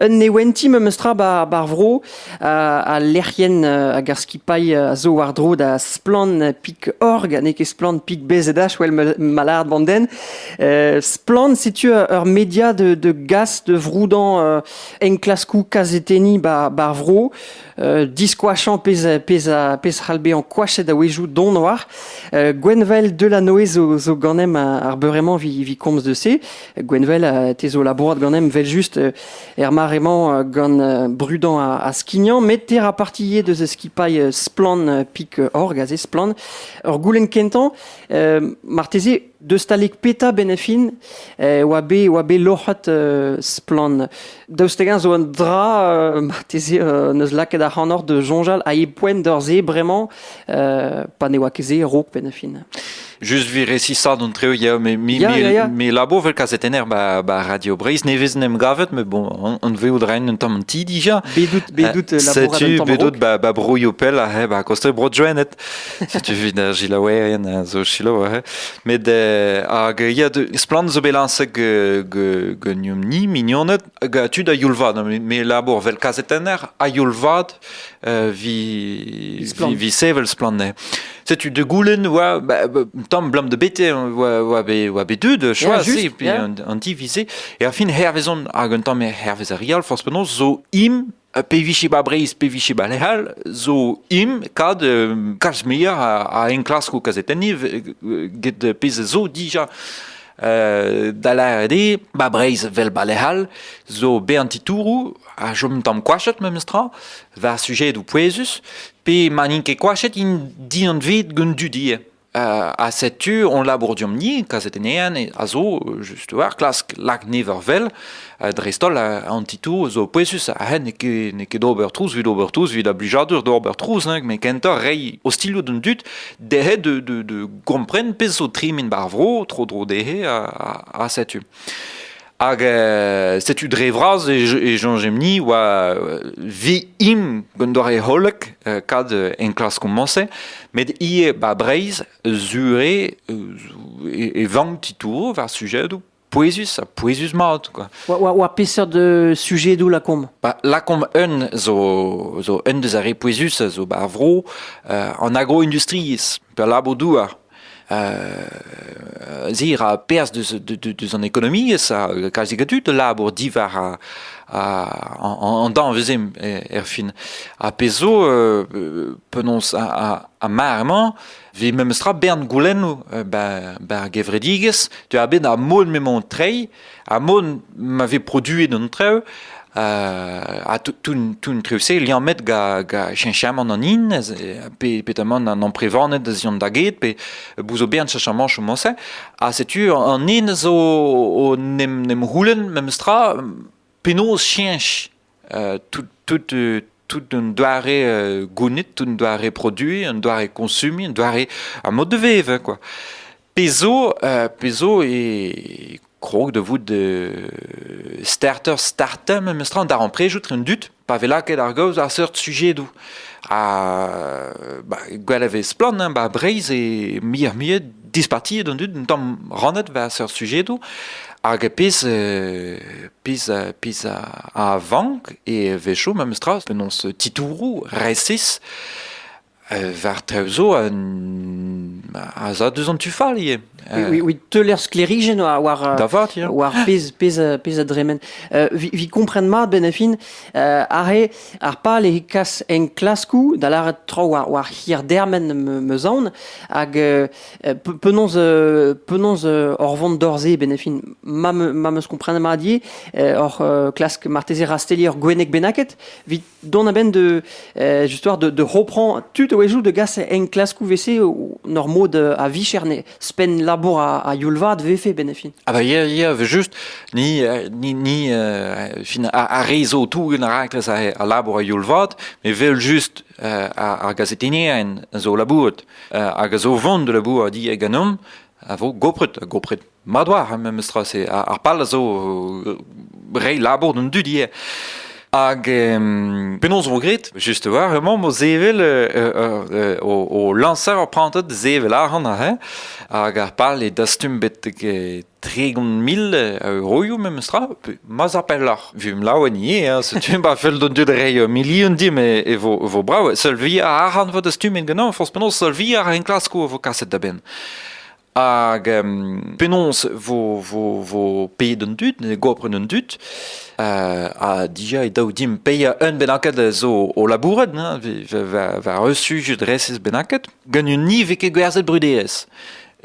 Un neventi memes tra bar vro al lec'hienn hag ar skipailh a zo war-dro da Splann Pig.org ha n'eo ket Splann Pig.bzh wel ma lâret bandenn. Splann setu ur media de gas de vroudañ enklaskoù kazetenniñ bar vro diskoachañ pezh c'hall bezañ koachet a-wezhioù don war. Gwenvael Delanoe zo ganem ar beure-mañ evit komz de se. Gwenvel, te zo labourat ganem vel-just er mare-mañ gant brudañ ha skignañ, met te ra parti ivez deus skipailh Splann Pik Org, aze Splann. Ur goulenn kentañ, marteze deus talek peta benefin e oa bet, oa bet loc'het Splann Daoust-hag-eñ zo un dra, euh, marteze, euh, n'eus lakaet ac'hanoc'h de soñjal a e poent d'ur-se bremañ, euh, pa ne oa ket se raok penn-a-fin Just vi resisad an treo yeo me mi yeah, mi labour vel kazetenner ba ba Radio Breizh nevez en em gavet me bon an on veout rein un tamm ti dija bedut bedut labour setu bedut ba ba brouio pell a he ba koste bro joenet Setu evit ar gilaouerien a zo selaou aze. Met eh, hag ya splann zo bet lañset ganeomp-ni mignoned hag tud a youl-vat me labour vel kazetenner a youl-vat euh, vi, vi, sevel splann Setu de goulen oa ba, ba, tam blam de bete oa oa be oa be dud choisi pi an divisé et à fin hervezon hag un tam hervez a rial force penaos zo im Ha pe vije ba Breizh, pe vije ba lec'h all, zo im kad euh, kalz muioc'h a, a enklaskoù kazetenniñ euh, get pezh zo dija. Euh, da lâret eo, ba Breizh vel ba lec'h all, zo be an titouroù a chom tamm koachet memes tra, war sujedoù pouezus, pe ma n'int ket koachet int dianvet gant dudie. ha setu hon labour diomp-ni kazetennean a zo just war klask lak never vel dreist-holl an titoù zo pouezus ha n'eo ket d'ober trouz evit ober trouz evit a blijadur d'ober trouz met kentoc'h reiñ ostilhoù d'an dud dezhe de gompren pezh zo tremen bar vro tro-dro dezhe ha setu Hag euh, setu dre vras e, e oa vi im gant doare hollek euh, kad euh, enklask komañse, met ie ba Breizh zure e, e vank titouro war sujedoù pouezus ha pouezus mat quoi. Oa, peseurt de sujet doù lakaomp Ba lakaomp un zo zo un deus ar re pouezus zo ba vro euh, an agro-industriezh pe labour douar Zir a perzh deus an ekonomiezh a kalzik a dud a labour diwar an danvez erfin. Ha pezh zo, penaos ar mar-mañ, vez memes tra bern goulennoù bar gevredigezh, tu a bet ar mod m'emañ o treiñ, Ha mont ma vez produet an traoù, ha tout traoù-se liammet gant cheñchamant an hin, pe petamant an amprevaned da ziont da get, pe bout zo bern cheñchamant chomo-se. Ha setu an hin zo n'em c'houlenn memes tra penaos cheñch tout un doare gounid, tout un doare produiñ, un doare koñsumiñ, un doare a mod da vevañ kwa. Pezh zo, pezh zo e krog da vout starter starter memestra an darempredoù etre an dud pa vez lakaet ar gaoz àr seurt sujedoù. Ha gwell a vez splann ba Breizh eo muioc'h-muiañ dispartiet an dud un tamm rannet war seurt sujedoù hag pezh euh, pezh euh, pezh a vank e wecho memes tra penaos titouroù resis euh, war traoù zo a za deus an tu fall ivez. Oui, oui, teuler sklerijenn war war pezh pezh pezh a dremen. vi, vi kompren mat benafin are Ar pal eo kas enklaskoù, da lâret traoù war, war hir-dermen meus aon, hag euh, penaos, euh, penaos euh, hor vont d'hor-se, benefin, ma, ma meus komprenet mat ivez, hor klask marteze rastelliñ ur gwenneg bennaket, vit dont a-benn de, justoire de, de reprendre tout a de gas enklaskoù vese nor mod a vicher ne, Ouzhpenn labour a youl-vat vefe benn fin. Ah bah ya ya just ni euh, ni ni euh, fin a rezo tougen a rakles a labour a youl-vat me vel just euh, ar gazetenien zo labouret hag a zo vont de labour a di e ganom a vo gopret gopret madwar memestra se ar pal a zo rei labour d'un dudier Hag penaos vo graet? Just war hemañ mo zevel o lañser ur prantad zevel arc'hant aze hag ar pal eo dastum bet tregont mil euroioù memes tra ma'z ar pelloc'h vimp laouen ivez setu ba fell d'on dud reiñ milion dim e vo vo brav seul vi arc'hant vo dastumet ganeomp forzh penaos seul vi ar enklaskoù a vo kaset da benn Hag penaos vo, vo, vo paeet an dud, gopret an dud, ha dija e daou dimp paeañ un bennaket zo o labourat, war un sujet resis bennaket, gant un ni vez ket gwerzhet bruderezh.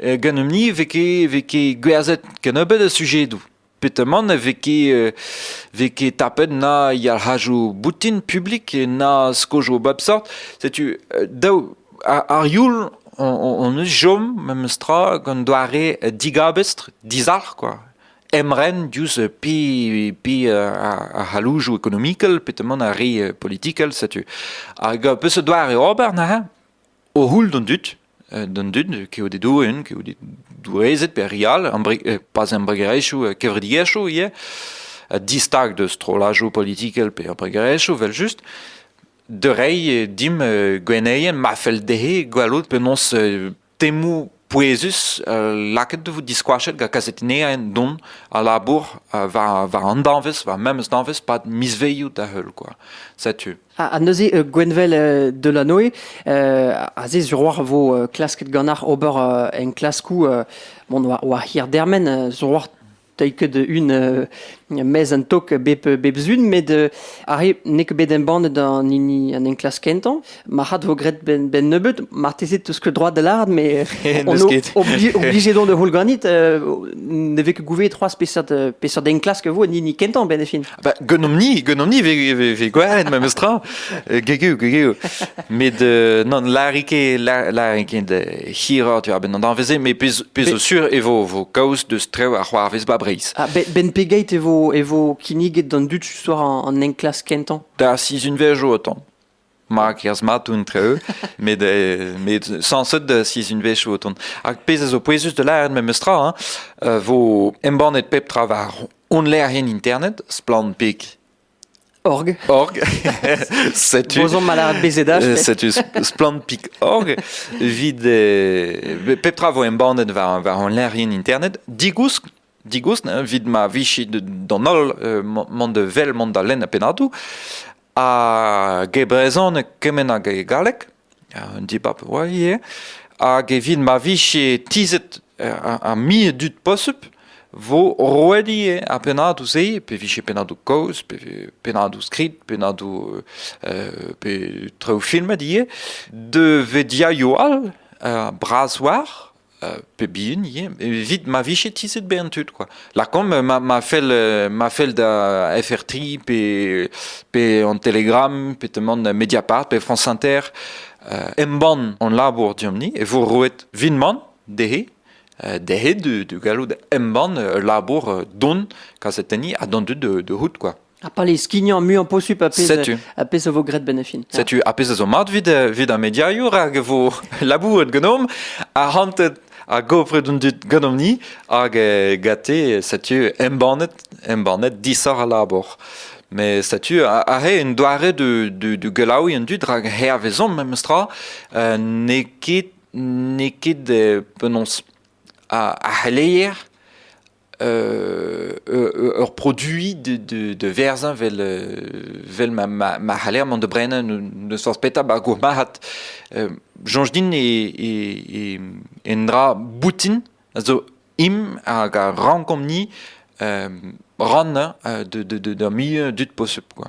Gant un ni vez ket, vez ket gwerzhet kennebeut a sujedoù. Petamant e vez ket vez ket tapet na yalc'hajoù boutin publik na skojoù bep seurt. Setu daou ar youl hon eus chom memestra gant doare digabestr, dizalc'h kwa. Emren diouzh pe pe ar c'halloujoù ekonomikel petamant ar re politikel setu. Hag peseurt doare ober neuze? O c'houl d'an dud, d'an dud, kaout e doenn, kaout e doueezed pe re all, pas embregerezhioù, kevredigezhioù ivez, ha distag deus strollajoù politikel pe embregerezhioù evel-just, da reiñ dimp gwenneien ma fell dezhe gwelout penaos temoù pouezus lakaet e vo diskoachet gant kazetennerien don a labour war, war an danvez, war memes danvez pad mizvezioù da heul quoi. Setu. Ha, neuze euh, Gwenvel euh, Delanoe euh, aze sur war vo klasket ganac'h ober en klaskou bon war, war hir dermen sur war Teuy ket un mez an tok bep bep zun, met arre n'eo ket bet embannet an hini an enklask kentañ. Marc'had vo graet ben, ben nebeut, marteze tout ce droit de l'art, mais on obligé don de houl ganit, ne vez ket gouve trois spesort, spesort enklask vo an hini kentañ ben e fin. Bah, gwenomp-ni, gwenomp-ni ve gwaret memes tra. Euh, gegeu, gegeu. Met, euh, non, larike, larike de hira, tu vois, ben an danveze, mais pez zo sur e vo, vo kaoz deus trev ar c'hoarvez ba Breiz. Ah, ben pegeit e vo, e vo kinniget d'an dud, tu soir, an enklas kentan? Da, si zun vejo otan. ma kerzh mat entre-eux, met, euh, met sañset da sizhunvezh o tont. Hag pezh a zo pouezus da lâret memes tra, hein, euh, vo embannet pep tra war honnleerien internet, splanpik org. Org. setu. Bozon malart bezedaj. Euh, setu splanpik.org. Vit, euh, pep tra vo embannet war, war hon internet. Digousk digousk evit ma vije d'an holl mont vel mont da lenn ar pennadoù hag e brezhoneg kement hag e galleg un dibab oa ivez hag evit ma vije tizhet ar mil dud posubl vo roet ivez ar pennadoù-se pe vije pennadoù kaoz pe pennadoù skrid pennadoù pe traoù filmet ivez da vediaioù all bras war pep hini evit ma vije tizhet bezañ tud kwa lakaomp ma ma fell ma fell da FR3 pe pe an Telegram pe teman Mediapart pe France Inter embann hon labour diomp-ni e vo roet vinman dezhe dezhe da gallout embann ul labour don kazetenniñ ha d'an dud de hout quoi Ha pa les skignañ muiañ posupl a pezh a pezh a vo graet benefin. Setu a pezh a zo mat vid vid ar mediourioù rak e vo labouret ganeomp arc'hantet a gopret un dud ganeomp-ni hag eh, gate setu embannet embannet disoc'h al labour. Mais setu a, a re un doare de de de gelaouiñ an dud rak hervezomp memestra euh, n'eo ket n'eo ket penaos a, a c'heleier ur produit de, de, de verzañ vel, vel ma, ma, ma c'haller mont da brenañ n'eus forzh petra ba'r gourmarc'had. soñj din e, e, e, un dra boutin a zo im hag a rankomp-ni rannañ de, de, de, d'ur milieu dud posubl. Quoi.